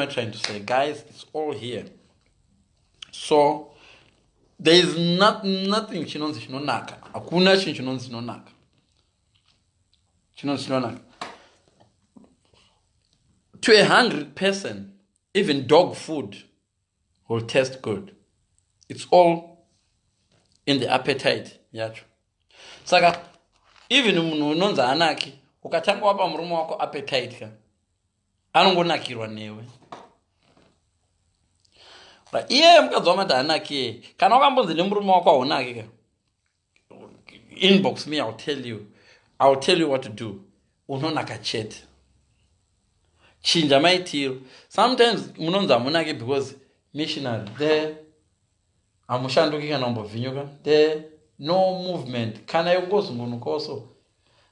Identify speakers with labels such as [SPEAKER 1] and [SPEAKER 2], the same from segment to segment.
[SPEAKER 1] am I trying to say guys it's all here so there is not, nothing chinonzi chinonaka hakuna chinhu chinonzi chinonaka chinonzi chinonaka to a hungry person even dog food will taste good it's all in the appetite yacho saka even munhu unonzi anaki ukatanga wapa murume wako appetite ka anongonakirwa newe iyeye mukadzi wamati hanake kana wakambonzi nemurume wako haunake ka inbox me ill tell you ill tell you what to do unonaka chete chinja maitiro sometimes munonzi hamunake because missionary the hamushanduki kana kumbovhinyuka the no movement kana yokungozungunukawo so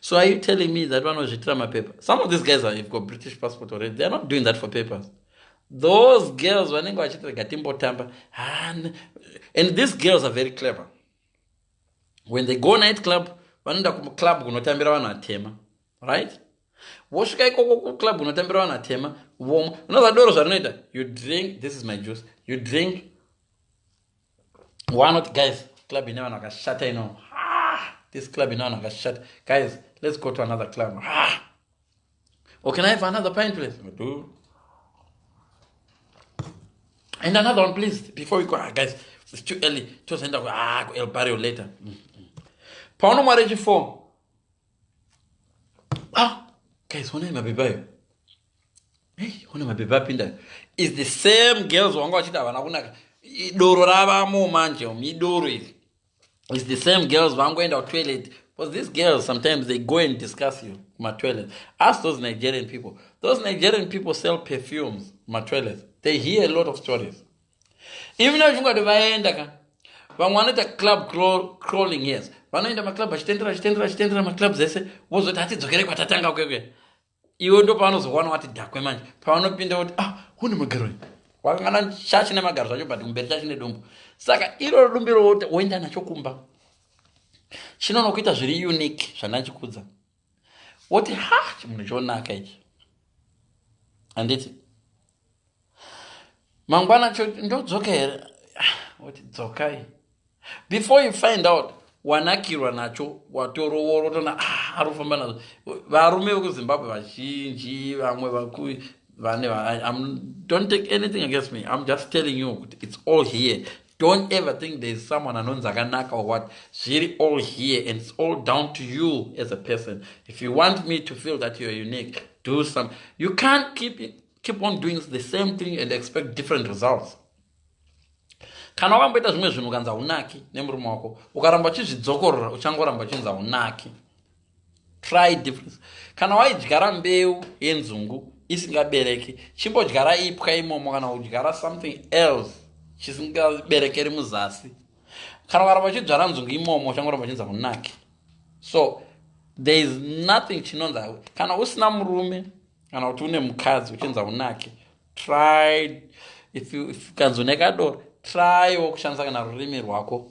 [SPEAKER 1] so are you telling me that vanozviitira mapepa some of these guys have got british passport already theyare not doing that for papers those girls vanenge vachiti rega timbotamba and these girls are very clever when they go night club vanoenda kuclub kunotambira vanhu atema right vosvika ikoko kuclub kunotambira vanhu atema vomwa unozadoro zvarinoita you drink this is my juice you drink wanoti guys club ine vanhu vakashata ino ah, this club ine vanhu vakashata guys let's go to another club or ah. oh, can i have another pint please do and another one please before we go ah, guys it's too early tozoenda ah, kuelbario later mm, mm. paunomwari chifour ah guys honai mapepa ayo hey hona mapepa apinda is the same girls wanga vachiti havana kunaka idoro ravamo manje um idoro iri is the same girls vangoenda kutoilet because these girls sometimes they go and discuss you kumatoilet ask those nigerian people those nigerian people sell perfumes kumatoilet they hear a lot of stories even now zvingati vaenda ka vamwe vanoita club crawling yes vanoenda maclub vachitendera vachitendera vachitendera maclub dzese vozoti hatidzokere kwatatanga kwekwe iwe ndo pavanozokuwana wati dhakwe manje pavanopinda kuti ah hune magaro wakangana shashi nemagaro zvacho but kumberi shashi nedumbu saka iroro dumbu iroro woenda nacho kumba chinonokuita zviri unique zvandachikudza woti ha chimunhu chonaka ichi handiti mangwana cho ndodzoka here woti dzokai before you find out wanakirwa nacho watorooro tona ah, ari kufamba nazvo varume vekuzimbabwe vazhinji vamwe vaku vane don't take anything against me i'm just telling you kuti it's all here don't ever think there is someone anonzi akanaka or what zviri all here and it's all down to you as a person if you want me to feel that you're unique do some you can't keep it, keep on doing the same thing and expect different results kana wakamboita zvimwe zvinhu ukanzi haunaki nemurume wako ukaramba uchizvidzokorora uchangoramba uchinzi haunaki try difference kana waidyara mbeu yenzungu isingabereki chimbodyara ipwa imomo kana kudyara something else chisingaberekeri muzasi kana ukaramba uchidzvara nzungu imomo uchangoramba uchinza kunaki so there is nothing chinonzi kana usina murume kana kuti une mukadzi uchinza kunaki try if kanzi une kadoro try wo kushandisa kana rurimi rwako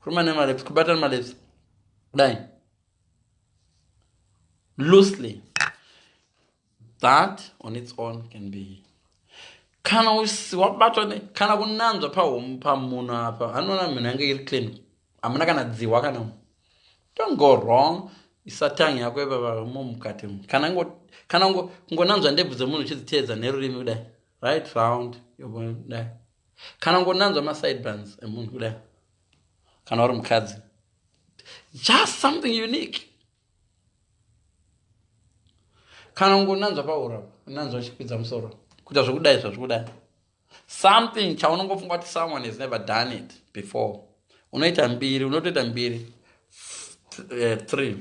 [SPEAKER 1] kuruma nemaleps kubata nemaleps kudai loosely that on its own can be kana wabatwa ne kana kunanzva pahomu pamunhu apa hanoona munhu yange iri clean hamuna kana dzihwa kana mu don't go wrong isatangi yako ipapamo mukati mu kana ngo kana ngo kungonanzva ndebvu dzemunhu uchidziteedza nerurimi kudai right round yobodai kana ngonanzwa masideburns emunhu kudai kana uri mukadzi just something unique kana ngonanzwa paura nanzwa uchikwidza musoro kuita zvekudai zvazvikudai something chaunongofunga kuti someone has never done it before unoita mbiri unotoita mbiri eh, three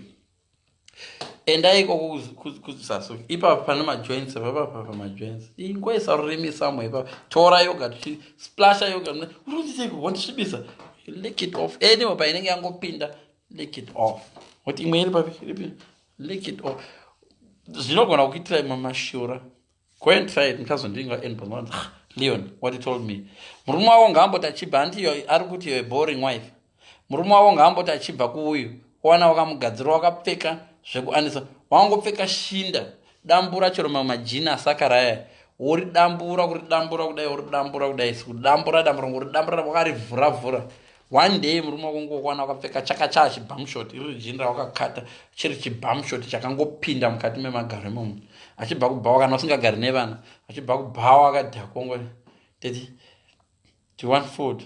[SPEAKER 1] endai ikoko kusasu ipapo pane majoints papapa pamajoints ingoisa rurimi samo ipapo tora yoga tichisplasha yoga unotiseiko wondisvibisa lick it off anyway painenge yangopinda lick it off kuti imwe iri papi iripi lick it off zvinogona kuitira imwe mashura go and try it ndichazondinga and bhonwa ah, leon what he told me murume wavo ngaamboti achibva hanti iyo ari kuti iyo boring wife murume wavo ngaamboti achibva kuuyu owana wakamugadzirwa wakapfeka zvekuanisa wangopfeka shinda dambura chero mamwe majini asakaraya uri dambura kuri dambura kudai uri dambura kudai sikudambura dambura uri dambura wakarivhura vhura, vhura. one day murume wakungokuwana wakapfeka chaka chaa chibhamshot iri rijini rawakakata chiri chibhamshot chakangopinda mukati memagaro imomo achibva kubhawa kana usingagari nevana achibva kubhawa akadhakongo teti ti one food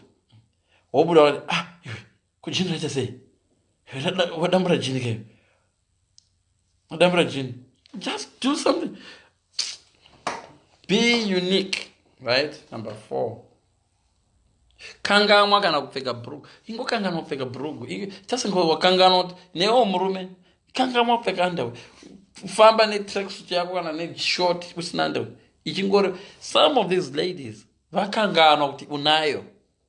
[SPEAKER 1] wobuda wati ah iwe kujini raita sei wadambura jini keyo Madambura Jin. Just do something. Be unique. Right? Number four. Kanganwa kana kupfeka brugu. Ingo kanganwa kupfeka brugu. Just ingo wakanganwa kuti newo murume. Kanganwa kupfeka underwear. Famba ne tracksuit yako kana ne short usina underwear. Ichingori some of these ladies vakanganwa kuti unayo.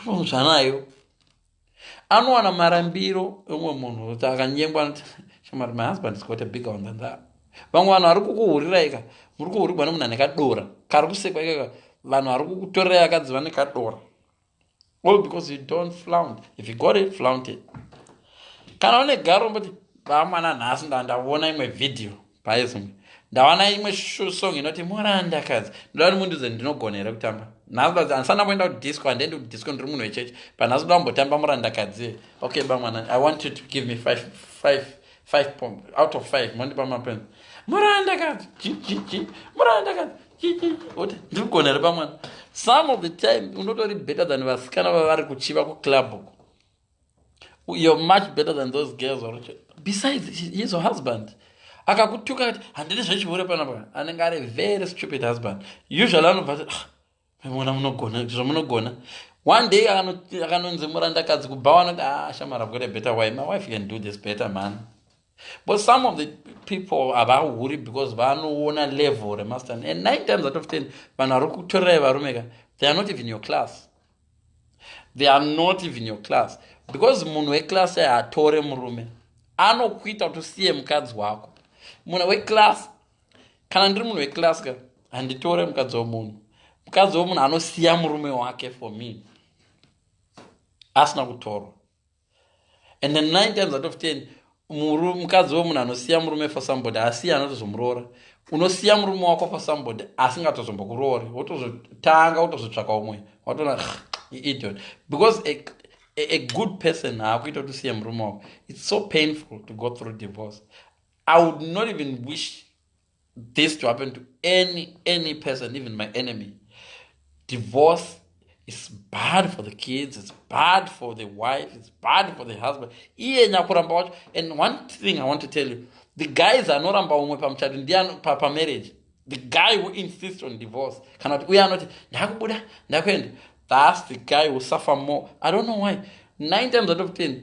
[SPEAKER 1] anomutsva nayo anowana marambiro emumwe munhu kuti akanyengwa shamari my husband is quite a bigger one than that vamwe vanhu vari kukuhurirai ka muri kuhurigwa nemunhu ane kadora kari kusekwa ikaka vanhu vari kukutorerai akadzi vane kadora all because you don't flaunt if you got it flaunt it kana une garo mboti vamwana nhasi ndandaona imwe vhidhiyo paezimwe ndawana imwe song inoti muranda kadzi ndoda kuti mundiudze ndinogona here kutamba nhasi andisana kuenda kudisco handiendi kudisco ndiri munhu wechechi but nhasi ndoda mbotamba muranda kadzi okay bamwana i want you to give me five, five, five pom out of five mondipa mapenzi muranda kadzi chichichi muranda kadzi chichichi oti ndirigona here bamwana some of the time unotori better than vasikana vavari kuchiva kuclub uko you're much better than those girls or besides he's a husband akakutuka kuti handidi zvechihure panapa anenge ari very stupid husband usually anobva ti ah, mona munogona zvamunogona one day akanonzi murandakadzi kubhawa anoti ah shamara i've got a better wife my wife can do this better man But some of the people havahuri because vanoona level remastern and nine times out of ten vanhu vari kutorerai varume ka they are not even your class they are not even your class because munhu weclass aye hatore murume anokuita kuti usiye mukadzi wako munhu weclass kana ndiri munhu weclass ka handitore mukadzi wemunhu mukadzi wemunhu anosiya murume wake for me asina kutorwa and then nine times out of ten muru mukadzi wemunhu anosiya murume for somebody asiya anotozomuroora unosiya murume wako for somebody asingatozombokuroori wotozotanga wotozotsvaka umwe watoona idiot because a, a, a good person haakuita kuti usiye murume wako its so painful to go through divorce i would not even wish this to happen to any any person even my enemy divorce is bad for the kids it's bad for the wife it's bad for the husband iye nyakuramba wacho and one thing i want to tell you the guys anoramba umwe pamuchati ndiye pamarriage the guy who insists on divorce kana kuti uye anoti ndakubuda ndakuenda thats the guy who suffer more i don't know why nine times out of ten